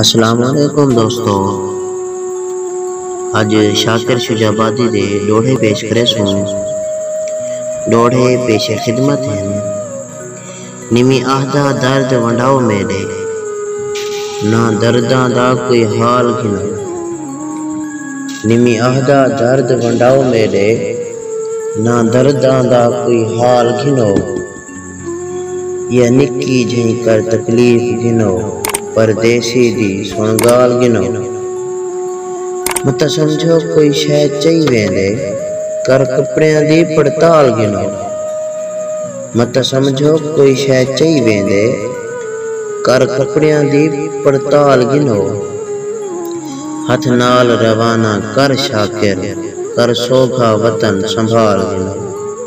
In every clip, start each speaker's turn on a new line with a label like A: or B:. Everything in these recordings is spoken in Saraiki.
A: السلام علیکم دوستو اج شاکر شجاع آبادی دے ڈوہڑے پیش کریسوں ڈوہڑے پیش خدمت ہن نویں آہدا درد ونڈاؤ میڈے نہ درداں دا کوئی حال گھناں نویں آہدا درد ونڈاؤ میڈے نہ درداں دا کوئی حال گھنو۔ یا نکی جھئیں کر تکلیف گھنو پردیسی دی سݨ ڳالھ گھنو متاں سمجھو کوئی شئے چئی ویندے کر کپڑیاں دی پڑتال گھنو متاں سمجھو کوئی شئے چئی ویندے کر کپڑیاں دی پڑتال گھنو ہتھ نال روانہ کر شاکر کر سوگھا وطن سنبھال گھنو۔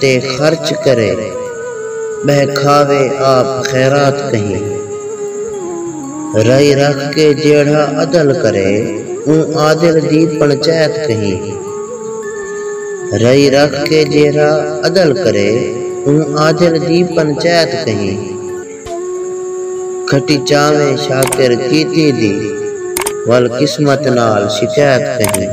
A: تے خرچ کرے ٻہہ کھاوے آپ خیرات کہیں رائی رکھ کے جیڑھا عدل کرے اوں عادل دی پنچیت کہیں رائی رکھ کے جیڑھا عدل کرے اوں عادل دی پنچیت کہیں کھٹی چاویں شاکر کیتی دی ول قسمت نال شکیت کہیں۔